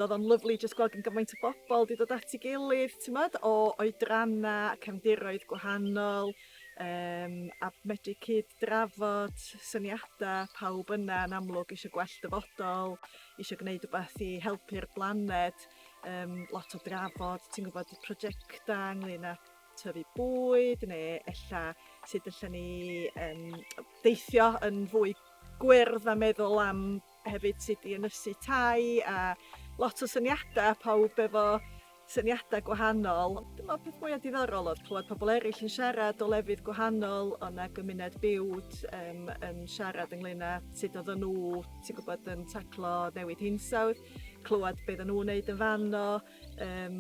O'dd o'n lyfli jyst gweld gyn gymaint o bobol 'di dod at 'i gilydd t'mod o oedranna a cefndiroedd gwahanol yym a medru cyd-drafod syniada pawb yna yn amlwg isio gwell dyfodol isio gneud wbath i helpu'r blaned yym lot o drafod ti'n gwbod y projecta ynglŷn â tyfu bwyd ne' ella sud allan ni yym deithio yn fwy gwyrdd a meddwl am hefyd sut i ynysu tai a lot o syniada pawb efo syniada gwahanol. Dwi me'wl peth mwya diddorol o'dd clwad pobol eryll yn siarad o lefydd gwahanol o' 'na gymuned biwt yym yn siarad ynglŷn â sud oddan n'w ti'n gwbod yn taclo newid hinsawdd clwad be' oddan n'w neud yn fan 'no yym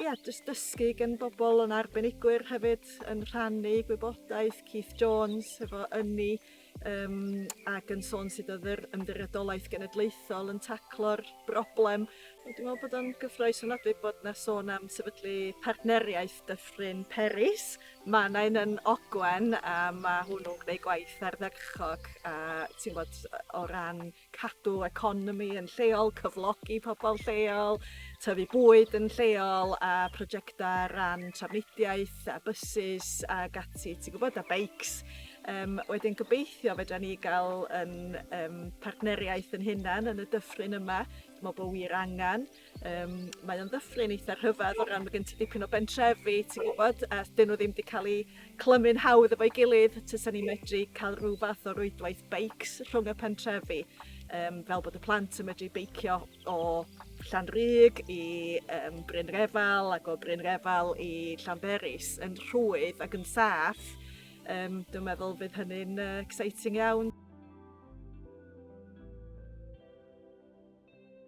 ia jyst dysgu gin bobol o' 'na arbenigwyr hefyd yn rhannu gwybodaeth Keith Jones hefo ynni Yym ac yn sôn sut odd yr Ymddiriedolaeth Genedlaethol yn taclo'r broblem. Wel dwi me'wl bod o'n gyffrous ofnadwy bod 'na sôn am sefydlu partneriaeth Dyffryn Peris. Ma' 'na un yn Ogwen a ma' hwnnw'n gwneud gwaith ardderchog a ti'n wbod o ran cadw economi yn lleol, cyflogi pobl lleol, tyfu bwyd yn lleol a prosiectau ran trafnidiaeth a bysus a gati, ti'n gwybod, a beics. Um, wedyn gobeithio fedra ni gael yn, um, partneriaeth yn hunan yn y dyffryn yma. Dwi'n meddwl bod wir angen. Yym mae o'n ddyffryn eitha rhyfedd o ran ma' gen ti dipyn o bentrefi ti'n gwybod a 'dyn nhw ddim 'di cael eu clymu'n hawdd efo'i gilydd tasa ni'n medru cael rhyw fath o rwydwaith beics rhwng y pentrefi yym fel bod y plant yn medru beicio o Llanrug i yym Bryn Refal ac o Bryn Refal i Llanberis yn rhwydd ac yn saff yym dwi'n meddwl bydd hynny'n yy exciting iawn.